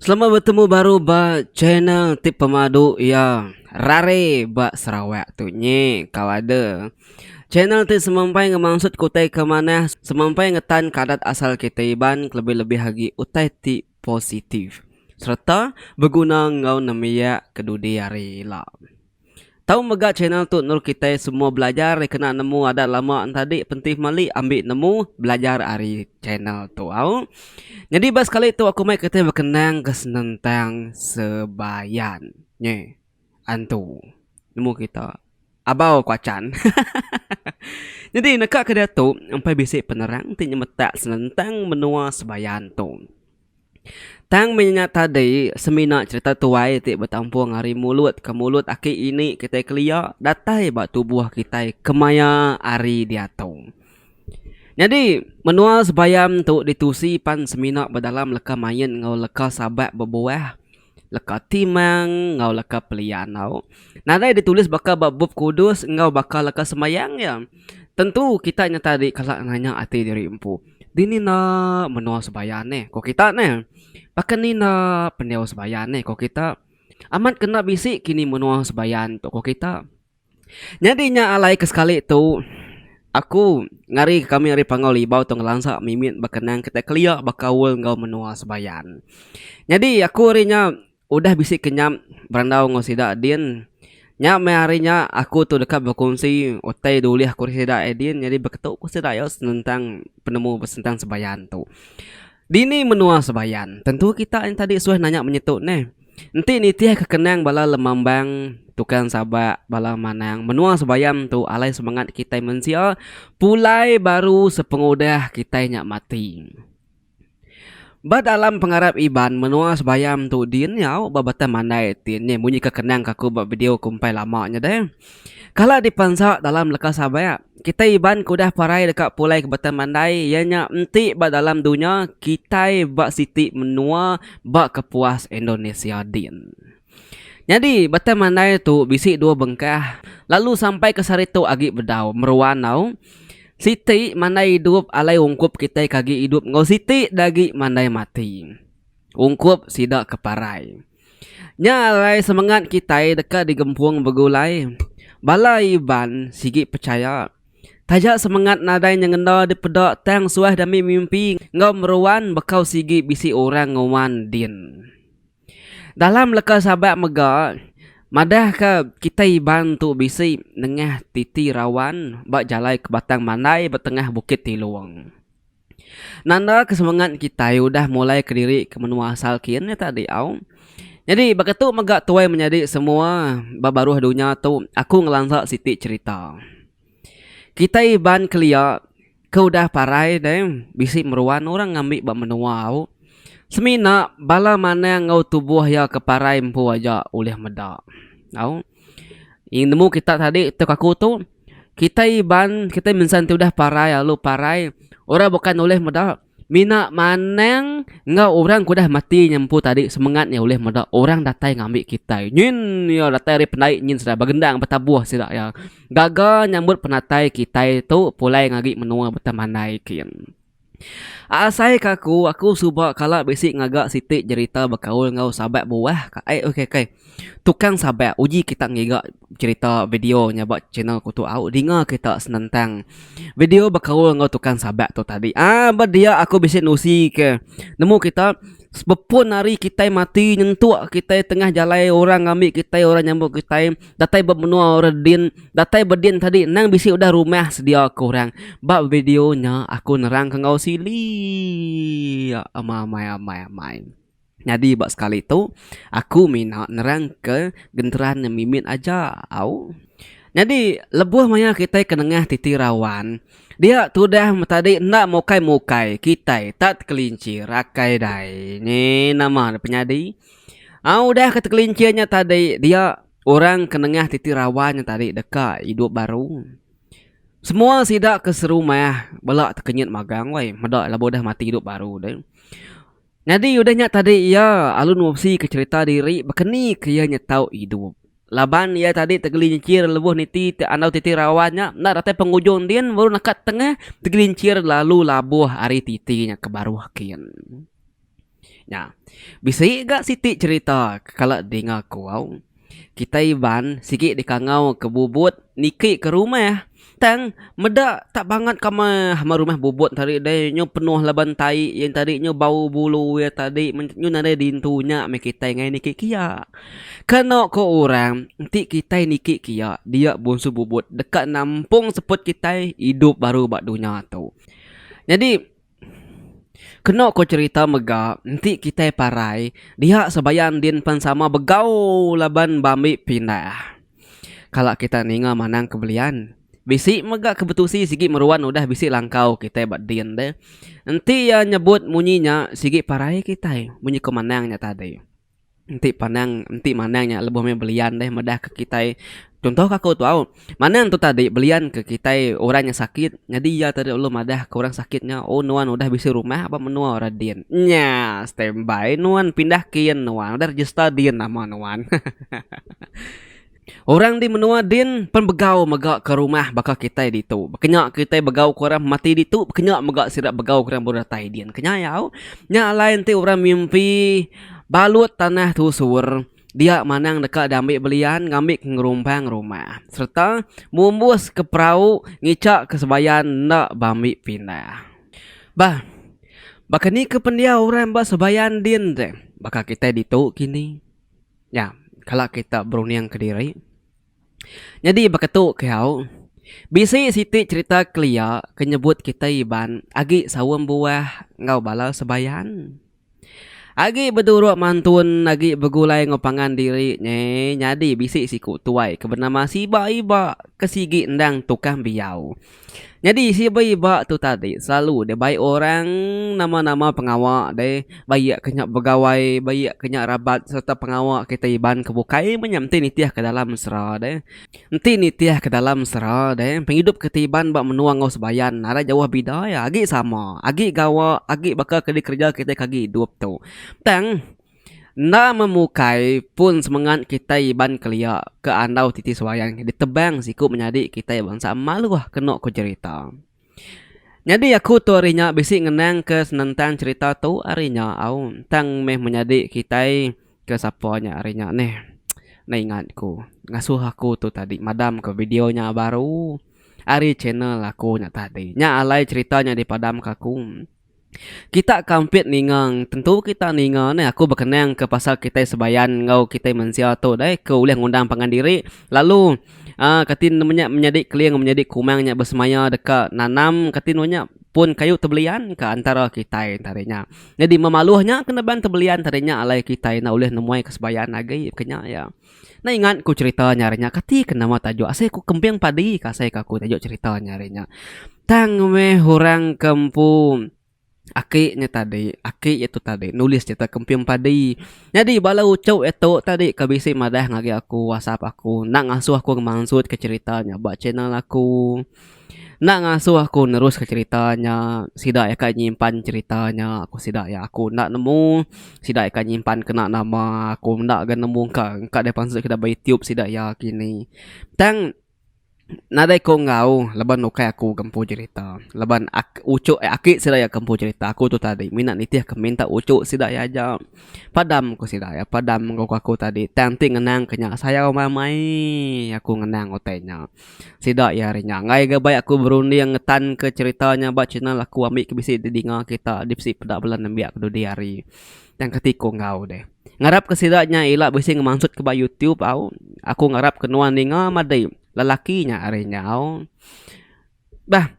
Selamat betemu baru ba channel ti pemadu iya rare ba Sarawak tu nyi Kawada. Channel ti semampai ngemansut ke utai ke manah, semampai ngetan ke adat asal kitai Iban kelebih-lebih agi utai ti positif sereta beguna enggau nembiak ke dudi hari ila. Tau mega channel tu endur kitai semua belajar ari kena nemu adat lama entadi penting meli ambi nemu belajar ari channel tu au. Nyadi ba sekali tu aku mai kitai bekenang ke senentang sebayan nyi antu nemu kita abau kuachan hahaha nyadi neka ke diatu empai bisi penerang ti nyemetak senentang menua sebayan tu. Tang meh nya tadi semina cherita tuai ti betampung ari mulut ke mulut aki ini kitai kelia datai ba tubuh kitai kemaya hari diatu. Nyadi menua sebayam tu ditusi pan semina bedalam leka main enggau leka sabak bebuah leka timang enggau leka pelia enggau nadai ditulis baka ba bup kudus enggau baka leka sembahyang nya. Tentu kita nyata diri kala nanya ati diri empu, dini enda menoa sembahyang neh ko kita neh. Baka ni enda pendiau sembahyang neh ko kita. Amat kena bisi kini menoa sembahyang tu ko kita. Nyadi nya alai ke sekali tu aku ngari kami ari Panggau Libau tu ngelansa mimit bekenang kitai kelia bekaul enggau menua sebayan. Nyadi aku ari nya udah bisi ke nyam berandau enggau sida din nya meh ari nya aku tu deka bekunsi utai dulih aku ari sida din nyadi beketu ku sida iya senentang penemu besenentang sebayan tu. Dini menua Sebayan. Tentu kita ain tadi suah nanya menyetu neh. Enti nitih ke kenang bala lemambang, tukang sabak, bala manang menua Sebayan tu alai semengat kitai mensia pulai baru sepengudah kitai nya mati. Ba dalam pengarap Iban menua Sebayan tu dinyau ba batang mandai ti nyeh munyi ke kenang ke aku ba video kumpai lama nya deh. Kala dipansa dalam leka sabak. Kitai Iban ke udah parai deka pulai ke Batang Mandai iya nya enti ba dalam dunya kitai ba siti menua ba kepuas Indonesia din. Nyadi Batang Mandai tu bisi dua bengkah lalu sampai ke sehari tu agi bedau meruan tau. Siti mandai idup alai ungkup kitai ke agi idup enggau siti da agi mandai mati ungkup sida ke parai. Nya alai semengat kitai deka digempung begulai. Bala Iban sigi pechaya, taja semengat nadai nyengenda dipeda tang suah dami mimpi enggau meruan bekau sigi bisi orang nguan din. Dalam leka Sabat mega, madahka kitai Iban tu bisi nengah titi rawan ba jalai ke Batang Mandai betengah Bukit Tilong. Nanda ke semengat kitai udah mulai kediri ke menua asal kin nya tadi au. Nyadi baka tu mega tuai menyadi semua ba baruh dunya tu aku ngelansa siti cherita. Kitai iban kelia ke udah parai deh bisi meruan orang ngambi ba menua au semina bala manang enggau tubuh iya ke parai empu aja ulih meda au. Nemu kita tadi tok aku tu. Kitai Iban, kitai mensan ti udah parai lalu parai, orang bukan ulih meda mina manang enggau orang ke udah mati nya empu tadi semengat iya ulih meda orang datai ngambi kitai nyin iya datai ari pendai nyin sida begendang betabuh sida iya gaga nyambut penatai kitai tu pulai ngagi menua Betamanai kin. Asaika aku, aku suba kala bisi ngaga siti jerita bekaul enggau sabat buah ka ai ok ok. Tukang sabat uji kita ngiga jerita video nya ba channel aku tu au dinga kita senentang video bekaul enggau tukang sabat tu tadi. Aa ba dia aku bisi nusi ke nemu kita bepun ari kitai mati nyentuk kitai tengah jalai orang ngambi kitai orang nyambut kitai. Datai ba menua orang din, datai ba din tadi endang bisi udah rumah sedia ke orang. Ba video nya aku nerangka enggau sili amai amai amai. Nyadi ba sekali tu aku mina nerangka genteran nya mimit aja au. Nyadi lebuh maya kitai ke nengah titi rawan dia tudah tadi enda mukai mukai kitai tak tekelincir akai dai. Nyi nama ne penyadi. Aa udah ke tekelincir nya tadi dia orang ke nengah titi rawa nya tadi deka idup baru. Semua sida ke serumah bela tekenyit magang weh meda laban udah mati idup baru deh. Nyadi udah nya tadi iya lalu nusi ke cherita diri bekeni ke iya nyetau idup. Laban iya tadi tegelincir lebuh niti ti andau titi rawa nya enda datai pengujung din baru neka tengah tegelincir lalu labuh ari titi nya ke baruh kin. Nya. Bisi ga siti cherita ke kala dinga ku au. Kitai Iban sigi dikangau ke Bubut niki ke rumah tang meda tak bangat ka ama rumah Bubut tadi deh nyu penuh laban tai iya tadi nyu bau bulu iya tadi nyu nadai dintu nya meh kitai ngai niki kia. Keno ko orang enti kitai niki kia dia Bungsu Bubut deka nampung seput kitai idup baru ba dunya tu. Nyadi. Keno ko cherita mega enti kitai parai dia sebayan din pen sama begau laban ba ambi pindah. Kala kitai ninga manang ke belian bisi mega ke betusi sigi meruan udah bisi langkau kitai ba din deh. Enti iya nyebut munyi nya sigi parai kitai munyi ko manang nya tadi. Enti pandang enti mandang nya lebuh meh belian deh meda ke kitai Contoh ke aku tu au Mandang tu tadi belian ke kitai orang nya sakit Nyadi iya tadi ulu madah ke orang sakit nya Oh nuan udah bisi rumah ba menua orang din Nya standby nuan pindah kin nuan udah register din nama nuan Orang di menua din pen begau mega ke rumah baka kitai ditu. Kenya kitai begau ke orang mati ditu kenya mega sida begau ke orang bau datai din. Kenyau nya alai enti orang mimpi balut tanah tusur dia manang deka diambi belian ngambi ke ngerumbang rumah sereta mumbus ke perau ngica ke sebayan enda ba ambi pindah. Bah baka ni ke pendiau orang ba sebayan din deh baka kitai ditu kini. Nya, kala kita berundingka diri. Nyadi baka tu kehau, bisi siti cherita kelia ke nyebut kitai iban agi saum buah enggau bala sebayan. Agi beduruk mantun, agi begulai enggau pangan diri nyi nyadi bisi siku tuai ke benama Siba Iba ke sigi endang tukang biau. Nyadi si ba iba tu tadi selalu deh bai orang nama-nama pengawa deh bai iya ke nya begawai bai iya ke nya rabat sereta pengawa kita Iban ke bukai meh nya enti nitih ke dalam mesra deh enti nitih ke dalam mesra deh pengidup kita Iban ba menua enggau sebayan arai jauh bida iya agi sama agi gawa agi baka ke dikereja kita ke agi idup tu tang. Enda memukai pun semengat kitai Iban kelia ke andau titi sebayang ditebang siku menyadi kitai bansa maluh kenu ku jerita. Nyadi aku tu ari nya bisi ngenangka senentang cherita tu ari nya au tang meh menyadi kitai ke sapa nya ari nya neh enda ingat ku ngasuh aku tu tadi madam ka video nya baru ari channel aku nya tadi nya alai cherita nya dipadam ka aku. Kita ke ampit ninga tentu kita ninga neh aku bekenang ke pasal kitai sebayan enggau kitai mensia tu deh ke ulih ngundang pangan diri lalu a kati nemu nya menyadi keling menyadi kumang nya besemaya deka nanam kati nemu nya pun kayu tebelian ka antara kitai enta nya. Nyadi meh maluh nya kena bang tebelian tadi nya alai kitai enda ulih nemuai ke sebayan agi ke nya iya. Nai ingat ku cerita nya hari nya kati ke nama tajuk asai ku kemping padi ke asai ke aku tajuk cerita nya hari nya. Tang meh orang ke empu aki nya tadi aki iya tu tadi nulis cerita kemping padi. Nyadi bala uchu iya tu tadi ke bisi madah ngagai aku whatsapp aku enda ngasuh aku ngemansut ke cerita nya ba channel aku. Enda ngasuh aku neruska cherita nya sida ka nyimpan cherita nya ku sida iya aku enda nemu sida ka nyimpan kena nama aku enda ga nemu engka engka deh pansut ke bei tube sida iya kini tang nadai ku enggau laban ukai aku ke empu cherita laban aku ujuk aki sida iya ke empu cherita aku tu tadi mina nitih ke minta ujuk sida iya aja padam ku sida iya padam ku aku tadi tang ti ngenang ke nya sayau meh mei aku ngenang utai nya. Sida iya ari nya anggai ga bai aku berunding ngetanka cherita nya ba channel aku ambi ke bisi didinga kita dipsi peda bala nembiak ke dudi hari tang ke ti ku enggau deh. Ngarap ke sida nya ila bisi ngemansut ke ba youtube au aku ngarap ke nuan ninga madi lelaki nya ari nya au. Bah.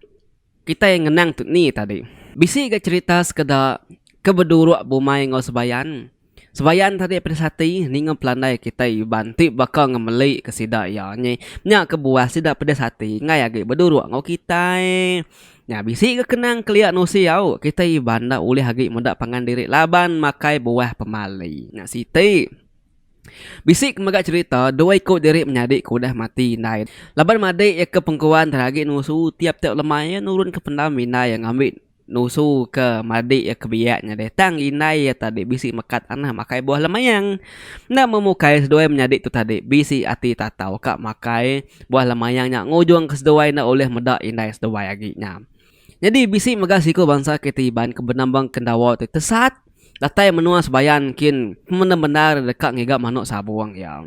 Kitai ngenang tu ni tadi. Bisi ga cherita sekeda ke beduruk bumai enggau Sebayan. Sebayan tadi peda sati ninga pelandai kitai Iban ti baka ngemeli ke sida iya nyi. Nya kebuah sida peda sati enggai agi beduruk enggau kitai. Nya bisi ga kenang kelia nusi au kitai Iban enda ulih agi meda pangan diri laban makai buah pemali. Nya siti. Bisi ke mega cherita dua iku diri menyadi ke udah mati indai laban madi iya ke pengkuan tang agi nusu tiap tiap lema iya nurun ke pendam indai iya ngambi nusu ke madi iya ke biak nya deh tang indai iya tadi bisi meka tanah makai buah lemayang enda meh mukai seduai menyadi tu tadi bisi ati tatau ka makai buah lemayang nya ngujung ke seduai enda ulih meda indai seduai agi nya. Nyadi bisi mega siku bansa kitai Iban ke benambang Kendawa ti tesat datai menua Sebayan kin bendar-bendar deka ngiga manuk sabung iya.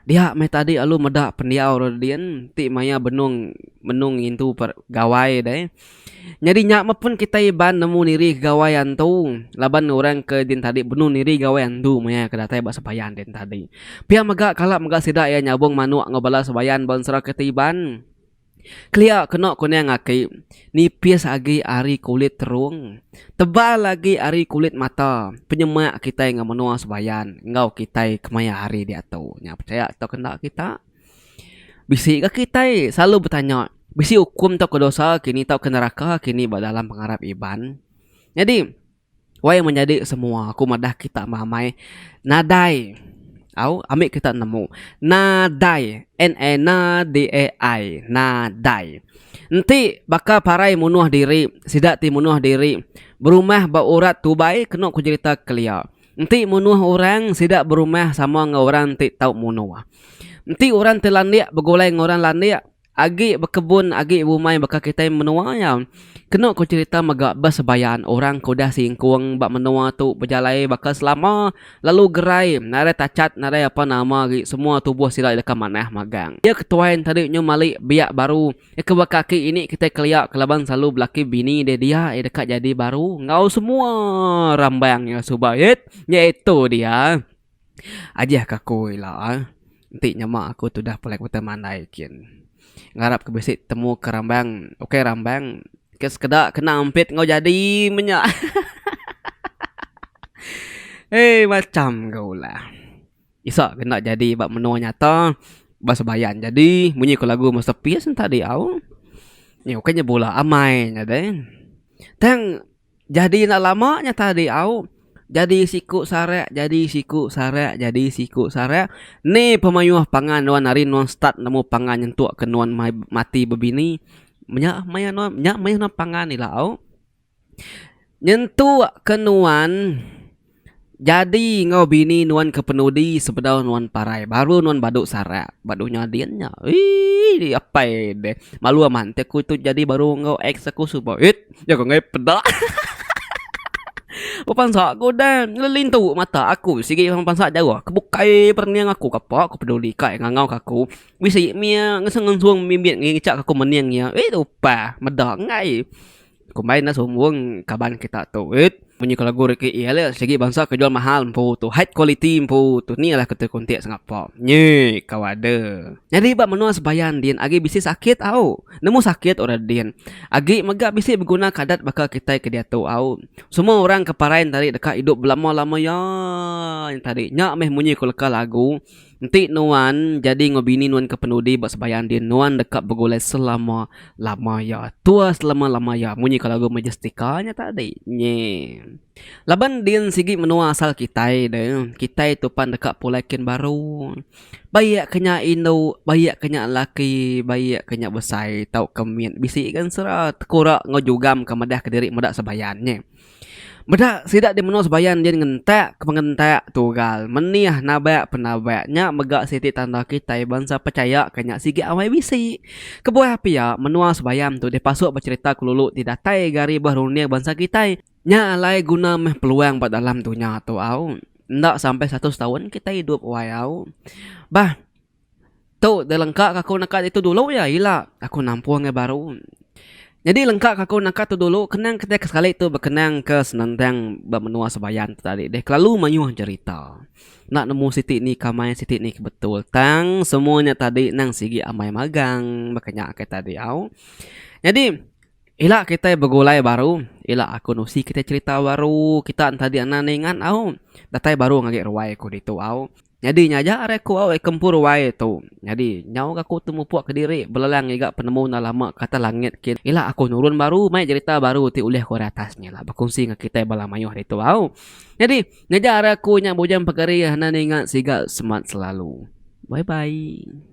Dia meh tadi alu meda pendiau ro din ti maya benung benung ngintu per gawai deh. Nyadi nya meh pun kitai Iban nemu niri gawai antu laban orang ke din tadi benung niri gawai antu maya ke datai ba Sebayan din tadi. Pia mega kala mega sida iya nyabung manuk enggau bala Sebayan ba ensera kitai Iban. Kelia keno kunang aki, nipis agi ari kulit terung, tebal agi ari kulit mata penyemak kitai enggau menua sebayan enggau kitai kemaya hari diatu. Nya pechaya tau ke enda kita. Bisi ga kitai selalu betanya bisi ukum tau ke dosa kini tau ke neraka kini ba dalam pengarap Iban. Nyadi. Wai menyadi semua aku madah kita meramai nadai au ambi kita nemu nadai N A N D A I nadai enti baka parai munuh diri sida ti munuh diri berumah ba urat tubai kenu ku jerita kelia enti munuh orang sida berumah sama enggau orang ti tau munuh enti orang ti landik begulai enggau orang landik. Agi bekebun agi bumai baka kitai menua iya. Kenu ku cherita mega beh sebayan orang ke udah singkung ba menua tu bejalai baka selama lalu gerai nadai tachat nadai apa nama agi semua tubuh sida iya deka manah magang. Iya ke tuai enti deh nyu mali biak baru iya ke baka aki ini kitai kelia ke laban selalu belaki bini deh dia iya deka jadi baru enggau semua rambang iya suba it nyaitu dia. Ajih ka aku ila ah. Enti nyema aku tudah pulai ke Bentang Mandai kin. Ngarap ke bisi temu ke rambang. Ukai rambang ke sekeda kena ampit enggau jadi meh nya. Hei macham ga ulah. Isa ke enda jadi ba menua nyata ba sebayan jadi munyi ku lagu masterpiece tadi au. Nya ukai nya bula amai nya deh. Tang. Jadi enda lama nya tadi au Jadi siku sarak Jadi siku sarak Jadi siku sarak Ni pemayuh pangan nuan ari nuan start nemu pangan nyentuk ke nuan mai mati bebini menya maya nuan nya maya nuan pangan ila au nyentuk ke nuan Jadi enggau bini nuan kepenudi sebedau nuan parai baru nuan badu sarak ba dunya din nya eii apai deh malu amat enti aku tu jadi baru enggau ex aku suba eit jaku angai peda hahaha bepansa ku deh ngelintu mata aku sigi meh bepansa jauh ke bukai perening aku ke apa ku peduli ka iya ngangau ka aku bisi mia ngesung ngesung mimit ngicak aku mening iya eit upah meda angai. Combine dah sumbung kaban kita tu it. Munyi ke lagu Ricky E ale sigi bansa ke jual mahal empu tu high quality empu tu ni lah ketu kontek sengapa. Nyi kau ada. Nyadi ba menua sebayan din agi bisi sakit au. Nemu sakit ora din. Agi mega bisi beguna kadat baka kitai ke diatu au. Semua orang ke parai ntadi deka idup belama lama ya nya tadi. Nya meh munyi ku leka lagu. Enti nuan nyadi enggau bini nuan ke penudi ba sembahyang din, nuan deka begulai selama-lama iya. Tua selama-lama iya, munyika lagu Majestika nya tadi. Nyi. Laban din sigi menua asal kitai ne, kitai tu pan deka pulai kin baru. Baik ke nya indu, baik ke nya laki, baik ke nya besai tauka mit bisi gansera tekura enggau jugam ke madahka diri meda sembahyang. Nyi. Meda sida di menua Sebayan din ngentak ke pengentak tugal menih nabak penabak nya mega siti tanda kitai bansa pechaya ke nya sigi awai bisi. Kebuah pia menua Sebayan tu dipasuk ba cherita kelulu ti datai ga ari bah runding bansa kitai nya alai guna meh peluang ba dalam dunya tu au. Enda sampai seratus taun kitai idup wai au. Bah. Tu delengka ka aku naka ditu dulu iya ila aku nampung ngai baru nyadi lengka ka aku naka tu dulu kenang kitai ke sekali tu bekenang ke senentang ba menua sebayan tu tadi deh kelalu mayuh jerita enda nemu siti ni ke amai siti ni ke betul tang semua nya tadi nang sigi amai magang baka nya ke tadi au nyadi ila kitai begulai baru ila aku nusi kitai cherita baru kita enti adi anak ninga au datai baru ngagi ruai aku ditu au. Nyadi nya aja ari aku awai kempuru wai tu. Nyadi, nyau ga aku temupuk kediri belelang ngiga penemu enda lama ke atas langit kin ila aku nurun baru mai jerita baru ti ulih ku ari atas nya ila bekunsi enggau kitai bala mayuh ditu au. Nyadi, nya aja ari aku nya Bujang Pegeri enda ninga siga semat selalu. Bye bye.